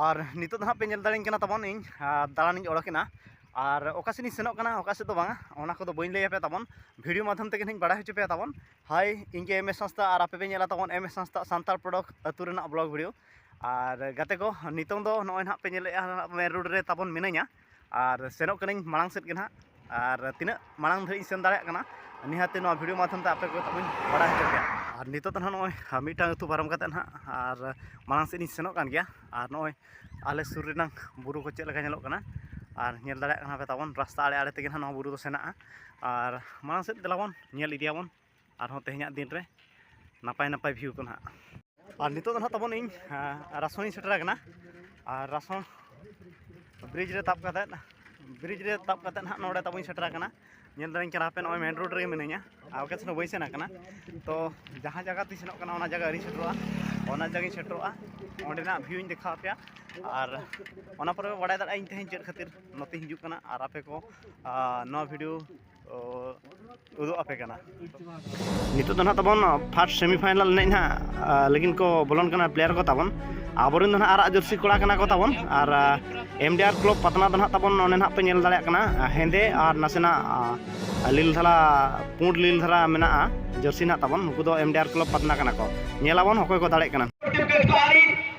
ᱟᱨ ᱱᱤᱛᱚᱜ ᱫᱚ ᱦᱟᱸᱜ ᱯᱮ ᱧᱮᱞ ᱫᱟᱲᱮᱧ ᱠᱟᱱᱟ ᱛᱟᱵᱚᱱ ᱤᱧ ᱫᱟᱬᱟᱱᱤᱧ ᱚᱰᱚᱠᱮᱱᱟ ᱟᱨ ᱚᱠᱟ ᱥᱮᱫ ᱤᱧ ᱥᱮᱱᱚᱜ ᱠᱟᱱᱟ ᱚᱠᱟ ᱥᱮᱫ ᱫᱚ ᱵᱟᱝᱟ ᱚᱱᱟ ᱠᱚᱫᱚ ᱵᱟᱹᱧ ᱞᱟᱹᱭ ᱟᱯᱮᱭᱟ ᱛᱟᱵᱚᱱ ᱵᱷᱤᱰᱤᱭᱳ ᱢᱟᱫᱽᱫᱷᱚᱢ ᱛᱮᱜᱮ ᱱᱟᱦᱟᱜ ᱤᱧ ᱵᱟᱲᱟᱭ ᱦᱚᱪᱚ ᱯᱮᱭᱟ ᱛᱟᱵᱚᱱ ᱦᱳᱭ ᱤᱧ ᱜᱮ ᱮᱢ ᱮᱥ ᱦᱟᱸᱥᱫᱟ ᱟᱨ ᱟᱯᱮ ᱯᱮ ᱧᱮᱞᱟ ᱛᱟᱵᱚᱱ ᱮᱢ ᱮᱥ ᱦᱟᱸᱥᱫᱟ ᱥᱟᱱᱛᱟᱲ ᱯᱨᱚᱰᱚᱠᱴ ᱟᱹᱛᱩ ᱨᱮᱱᱟᱜ ᱵᱞᱚᱜᱽ ᱵᱷᱤᱰᱤᱭᱳ ᱟᱨ ᱜᱟᱛᱮ ᱠᱚ ᱱᱤᱛᱚᱝ ᱫᱚ ᱱᱚᱜᱼᱚᱭ ᱱᱟᱦᱟᱜ ᱯᱮ ᱧᱮᱞᱮᱫᱼᱟ ᱢᱮᱱ ᱨᱳᱰ ᱨᱮ ᱛᱟᱵᱚᱱ ᱢᱤᱱᱟᱹᱧᱟ ᱟᱨ ᱥᱮᱱᱚᱜ ᱠᱟᱹᱱᱟᱹᱧ ᱢᱟᱲᱟᱝ ᱥᱮᱫ ᱜᱮ ᱱᱟᱦᱟᱜ ᱟᱨ ᱛᱤᱱᱟᱹᱜ ᱢᱟᱲᱟᱝ ᱫᱷᱟᱹᱨᱤᱡ ᱤᱧ ᱥᱮᱱ ᱫᱟᱲᱮᱭᱟᱜ ᱠᱟᱱᱟ ᱱᱤᱦᱟᱹᱛ ᱱᱚᱣᱟ ᱵᱷᱤᱰᱤᱭᱳ ᱢᱟᱫᱽᱫᱷᱚᱢ ᱛᱮ ᱟᱯᱮ ᱠᱚ ᱛᱟᱵᱚᱱ ᱵᱟᱲᱟᱭ ᱦᱚᱪᱚ ᱯᱮᱭᱟ ᱟᱨ ᱱᱤᱛᱚᱜ ᱫᱚ ᱱᱟᱦᱟᱜ ᱱᱚᱜᱼᱚᱭ ᱢᱤᱫᱴᱟᱝ ᱟᱹᱛᱩ ᱯᱟᱨᱚᱢ ᱠᱟᱛᱮᱫ ᱱᱟᱦᱟᱜ ᱟᱨ ᱢᱟᱲᱟᱝ ᱥᱮᱫ ᱤᱧ ᱥᱮᱱᱚᱜ ᱠᱟᱱ ᱜᱮᱭᱟ ᱟᱨ ᱱᱚᱜᱼᱚᱭ ᱟᱞᱮ ᱥᱩᱨ ᱨᱮᱱᱟᱜ ᱵᱩᱨᱩ ᱠᱚ ᱪᱮᱫ ᱞᱮᱠᱟ ᱧᱮᱞᱚᱜ ᱠᱟᱱᱟ ᱟᱨ ᱧᱮᱞ ᱫᱟᱲᱮᱭᱟᱜ ᱠᱟᱱᱟ ᱯᱮ ᱛᱟᱵᱚᱱ ᱨᱟᱥᱛᱟ ᱟᱲᱮ ᱟᱲᱮ ᱛᱮᱜᱮ ᱱᱟᱦᱟᱜ ᱱᱚᱣᱟ ᱵᱩᱨᱩ ᱫᱚ ᱥᱮᱱᱚᱜᱼᱟ ᱟᱨ ᱢᱟᱲᱟᱝ ᱥᱮᱫ ᱫᱮᱞᱟ ᱵᱚᱱ ᱧᱮᱞ ᱤᱫᱤᱭᱟᱵᱚᱱ ᱟᱨᱦᱚᱸ ᱛᱮᱦᱮᱧᱟᱜ ᱫᱤᱱ ᱨᱮ ᱱᱟᱯᱟᱭ ᱱᱟᱯᱟᱭ ᱵᱷᱤᱭᱩ ᱠᱚ ᱱᱟᱦᱟᱜ ᱟᱨ ᱱᱤᱛᱚᱜ ᱫᱚ ᱱᱟᱦᱟᱜ ᱛᱟᱵᱚᱱ ᱤᱧ ᱨᱟᱥᱚᱱᱤᱧ ᱥᱮᱴᱮᱨ ᱟᱠᱟᱱᱟ ᱟᱨ ᱨᱟᱥᱚᱱ ᱵᱨᱤᱡᱽ ᱨᱮ ᱛᱟᱵ ᱠᱟᱛᱮᱫ ᱵᱨᱤᱡᱽ ᱨᱮ ᱛᱟᱵ ᱠᱟᱛᱮᱫ ᱱᱟᱦᱟᱜ ᱱᱚᱰᱮ ᱛᱟᱵᱚᱧ ᱥᱮᱴᱮᱨ ᱟᱠᱟᱱᱟ ᱧᱮᱞ ᱫᱟᱲᱮᱧ ᱠᱟᱱᱟ ᱦᱟᱯᱮ ᱱᱚᱜᱼᱚᱭ ᱢᱮᱱ ᱨᱳᱰ ᱨᱮᱜᱮ ᱢᱤᱱᱟᱹᱧᱟ ᱟᱨ ᱚᱠᱟ ᱥᱮᱱ ᱦᱚᱸ ᱵᱟᱹᱧ ᱥᱮᱱ ᱟᱠᱟᱱᱟ ᱛᱚ ᱡᱟᱦᱟᱸ ᱡᱟᱭᱜᱟ ᱛᱤᱧ ᱥᱮᱱᱚᱜ ᱠᱟᱱᱟ ᱚᱱᱟ ᱡᱟᱭᱜᱟ ᱟᱹᱣᱨᱤᱧ ᱥᱮᱴᱮᱨᱚᱜᱼᱟ ᱚᱱᱟ ᱡᱟᱭᱜᱟᱧ ᱥᱮᱴᱮᱨᱚᱜᱼᱟ ᱚᱸᱰᱮᱱᱟᱜ ᱵᱷᱤᱭᱩᱧ ᱫᱮᱠᱷᱟᱣ ᱟᱯᱮᱭᱟ ᱟᱨ ᱚᱱᱟ ᱯᱚᱨᱮ ᱯᱮ ᱵᱟᱲᱟᱭ ᱫᱟᱲᱮᱭᱟᱜᱼᱟ ᱤᱧ ᱛᱮᱦᱮᱧ ᱪᱮᱫ ᱠᱷᱟᱹᱛᱤᱨ ᱱᱚᱛᱮᱧ ᱦᱤᱡᱩᱜ ᱠᱟᱱᱟ ᱟᱨ ᱟᱯᱮ ᱠᱚ ᱱᱚᱣᱟ ᱵᱷᱤᱰᱤᱭᱳ ᱩᱫᱩᱜ ᱟᱯᱮ ᱠᱟᱱᱟ ᱱᱤᱛᱚᱜ ᱫᱚ ᱱᱟᱦᱟᱜ ᱛᱟᱵᱚᱱ ᱯᱷᱟᱨᱥᱴ ᱥᱮᱢᱤ ᱯᱷᱟᱭᱱᱟᱞ ᱮᱱᱮᱡ ᱱᱟᱦᱟᱜ ᱞᱟᱹᱜᱤᱫ ᱠᱚ ᱵᱚᱞᱚᱱ ᱠᱟᱱᱟ ᱯᱞᱮᱭᱟᱨ ᱠᱚ ᱛᱟᱵᱚᱱ ᱟᱵᱚᱨᱮᱱ ᱫᱚ ᱱᱟᱦᱟᱜ ᱟᱨᱟᱜ ᱡᱟᱹᱨᱥᱤ ᱠᱚᱲᱟ ᱠᱟᱱᱟ ᱠᱚ ᱛᱟᱵᱚᱱ ᱟᱨ ᱮᱢ ᱰᱤ ᱟᱨ ᱠᱞᱚᱵᱽ ᱯᱟᱛᱱᱟ ᱫᱚ ᱱᱟᱦᱟᱜ ᱛᱟᱵᱚᱱ ᱚᱱᱮ ᱱᱟᱦᱟᱜ ᱯᱮ ᱧᱮᱞ ᱫᱟᱲᱮᱭᱟᱜ ᱠᱟᱱᱟ ᱦᱮᱸᱫᱮ ᱟᱨ ᱱᱟᱥᱮᱱᱟᱜ ᱞᱤᱞ ᱫᱷᱟᱨᱟ ᱯᱩᱸᱰ ᱞᱤᱞ ᱫᱷᱟᱨᱟ ᱢᱮᱱᱟᱜᱼᱟ ᱡᱟᱹᱨᱥᱤ ᱱᱟᱦᱟᱜ ᱛᱟᱵᱚᱱ ᱱᱩᱠᱩ ᱫᱚ ᱮᱢ ᱰᱤ ᱟᱨ ᱠᱞᱚᱵᱽ ᱯᱟᱛᱱᱟ ᱠᱟᱱᱟ ᱠᱚ ᱧᱮᱞ ᱟᱵᱚᱱ ᱚᱠᱚᱭ ᱠᱚ ᱫᱟᱲᱮᱜ ᱠᱟᱱᱟ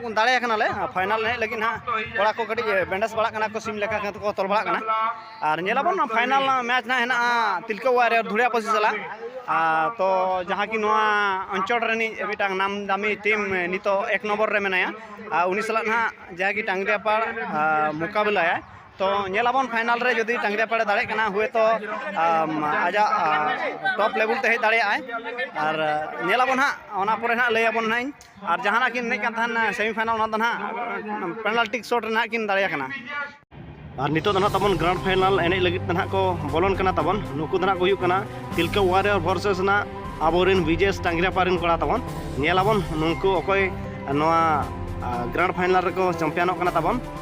ᱵᱚᱱ ᱫᱟᱲᱮ ᱟᱠᱟᱱᱟ ᱞᱮ ᱯᱷᱟᱭᱱᱟᱞ ᱮᱱᱮᱡ ᱞᱟᱹᱜᱤᱫ ᱱᱟᱦᱟᱜ ᱠᱚᱲᱟ ᱠᱚ ᱠᱟᱹᱴᱤᱡ ᱵᱮᱱᱰᱮᱡᱽ ᱵᱟᱲᱟᱜ ᱠᱟᱱᱟ ᱠᱚ ᱥᱤᱢ ᱞᱮᱠᱟ ᱠᱚ ᱛᱚᱞ ᱵᱟᱲᱟᱜ ᱠᱟᱱᱟ ᱟᱨ ᱧᱮᱞᱟᱵᱚᱱ ᱯᱷᱟᱭᱱᱟᱞ ᱢᱮᱪ ᱱᱟᱦᱟᱜ ᱦᱮᱱᱟᱜᱼᱟ ᱛᱤᱞᱠᱟᱹ ᱚᱣᱟᱨ ᱨᱮ ᱫᱷᱩᱲᱤᱭᱟ ᱯᱟᱹᱥᱤ ᱥᱟᱞᱟᱜ ᱛᱚ ᱡᱟᱦᱟᱸ ᱠᱤ ᱱᱚᱣᱟ ᱚᱧᱪᱚᱞ ᱨᱤᱱᱤᱡ ᱢᱤᱫᱴᱟᱝ ᱱᱟᱢ ᱫᱟᱢᱤ ᱴᱤᱢ ᱱᱤᱛᱚᱜ ᱮᱠ ᱱᱚᱢᱵᱚᱨ ᱨᱮ ᱢᱮᱱᱟᱭᱟ ᱟᱨ ᱩᱱᱤ ᱥᱟᱞᱟᱜ ᱱᱟᱦᱟᱜ ᱡᱟᱦᱟᱸ ᱠᱤ ᱴᱟᱝᱜᱽᱨᱤᱭᱟᱯᱟᱲ ᱢᱚᱠᱟᱵᱤᱞᱟᱭᱟᱭ ᱛᱚ ᱧᱮᱞᱟᱵᱚᱱ ᱯᱷᱟᱭᱱᱟᱞ ᱨᱮ ᱡᱩᱫᱤ ᱴᱟᱝᱜᱽᱨᱤᱭᱟᱯᱟᱲ ᱫᱟᱲᱮᱜ ᱠᱟᱱᱟ ᱦᱩᱭᱛᱚ ᱟᱡᱟᱜ ᱴᱚᱯ ᱞᱮᱵᱮᱞ ᱛᱮ ᱦᱮᱡ ᱫᱟᱲᱮᱭᱟᱜᱼᱟᱭ ᱟᱨ ᱧᱮᱞᱟᱵᱚᱱ ᱦᱟᱸᱜ ᱚᱱᱟ ᱯᱚᱨᱮ ᱱᱟᱦᱟᱜ ᱞᱟᱹᱭᱟᱵᱚᱱ ᱱᱟᱦᱟᱜ ᱤᱧ ᱟᱨ ᱡᱟᱦᱟᱱᱟᱜ ᱠᱤᱱ ᱮᱱᱮᱡ ᱠᱟᱱ ᱛᱟᱦᱮᱱ ᱥᱮᱢᱤ ᱯᱷᱟᱭᱱᱟᱞ ᱚᱱᱟ ᱫᱚ ᱱᱟᱦᱟᱜ ᱯᱮᱱᱟᱞᱴᱤ ᱥᱚᱴ ᱨᱮ ᱱᱟᱦᱟᱜ ᱠᱤᱱ ᱫᱟᱲᱮᱭᱟ ᱠᱟᱱᱟ ᱟᱨ ᱱᱤᱛᱚᱜ ᱫᱚ ᱱᱟᱦᱟᱜ ᱛᱟᱵᱚᱱ ᱜᱨᱟᱱᱰ ᱯᱷᱟᱭᱱᱟᱞ ᱮᱱᱮᱡ ᱞᱟᱹᱜᱤᱫ ᱛᱮ ᱱᱟᱦᱟᱜ ᱠᱚ ᱵᱚᱞᱚᱱ ᱠᱟᱱᱟ ᱛᱟᱵᱚᱱ ᱱᱩᱠᱩ ᱫᱚ ᱱᱟᱦᱟᱜ ᱠᱚ ᱦᱩᱭᱩᱜ ᱠᱟᱱᱟ ᱛᱤᱞᱠᱟᱹ ᱣᱟᱨᱤᱭᱚᱨ ᱵᱷᱚᱨᱥᱮᱥ ᱱᱟᱦᱟᱜ ᱟᱵᱚᱨᱮᱱ ᱵᱤᱡᱮᱥ ᱴᱟᱝᱜᱨᱟᱯᱟ ᱨᱮᱱ ᱠᱚᱲᱟ ᱛᱟᱵᱚᱱ ᱧᱮᱞᱟᱵᱚᱱ ᱱᱩᱠᱩ ᱚᱠᱚᱭ ᱱᱚᱣᱟ ᱜᱨᱟᱱᱰ ᱯᱷᱟᱭᱱᱟᱞ ᱨᱮᱠᱚ ᱪᱟᱢᱯᱤᱭᱟᱱᱚᱜ ᱠᱟᱱᱟ ᱛᱟᱵᱚᱱ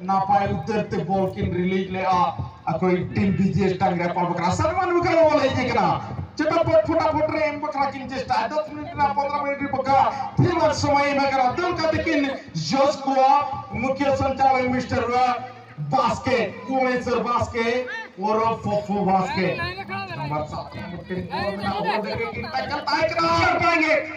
ᱱᱟᱯᱟᱭ ᱩᱛᱟᱹᱨ ᱛᱮ ᱵᱚᱞ ᱠᱤᱱ ᱨᱤᱞᱤᱡᱽ ᱞᱮᱜᱼᱟ ᱟᱠᱚᱭ ᱴᱤᱢ ᱵᱤᱡᱮᱥ ᱰᱟᱝᱨᱟ ᱯᱟᱲ ᱵᱟᱠᱷᱨᱟ ᱥᱟᱨᱢᱟᱱ ᱵᱟᱠᱷᱨᱟ ᱵᱚᱞ ᱦᱮᱡ ᱟᱠᱟᱱᱟ ᱪᱮᱴᱟᱯᱚᱴ ᱯᱷᱚᱴᱟᱯᱚᱴ ᱨᱮ ᱮᱢ ᱵᱟᱠᱷᱨᱟ ᱠᱤᱱ ᱪᱮᱥᱴᱟ ᱫᱚᱥ ᱢᱤᱱᱤᱴ ᱨᱮᱱᱟᱜ ᱯᱚᱱᱫᱨᱚ ᱢᱤᱱᱤᱴ ᱨᱮ ᱵᱟᱠᱷᱨᱟ ᱛᱷᱤᱨᱢᱟᱱ ᱥᱚᱢᱚᱭ ᱮᱢ ᱟᱠᱟᱱᱟ ᱫᱟᱹᱲ ᱠᱟᱛᱮ ᱠᱤᱱ ᱡᱚᱥ ᱠᱚᱣᱟ ᱢᱩᱠᱷᱭᱟᱹ ᱥᱚᱧᱪᱟᱞᱚᱠ ᱢᱤᱥᱴᱟᱨ ᱵᱟᱥᱠᱮ ᱠᱩᱢᱮᱥᱚᱨ ᱵᱟᱥᱠᱮ ᱳᱨᱚ ᱯᱚᱯᱚ ᱵᱟᱥᱠᱮ ᱱᱚᱢᱵᱚᱨ 7 ᱢᱩᱠᱷᱭᱟᱹ ᱵᱚᱞ ᱢᱮᱱᱟᱜ ᱵᱚᱞ ᱫᱮᱠᱷᱮ ᱠᱤᱱ ᱴᱟᱠᱟ ᱛᱟᱭ ᱠᱟᱱᱟ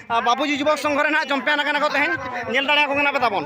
ᱵᱟᱵᱩᱡᱤ ᱡᱩᱵᱚᱠ ᱥᱚᱝᱜᱷᱚ ᱨᱮᱱᱟᱜ ᱡᱚᱢᱯᱮᱭᱟᱱ ᱠᱟᱱᱟ ᱠᱚ ᱛᱮᱦᱮᱧ ᱧᱮᱞ ᱫᱟᱲᱮᱭᱟᱠᱚ ᱠᱟᱱᱟ ᱯᱮ ᱛᱟᱵᱚᱱ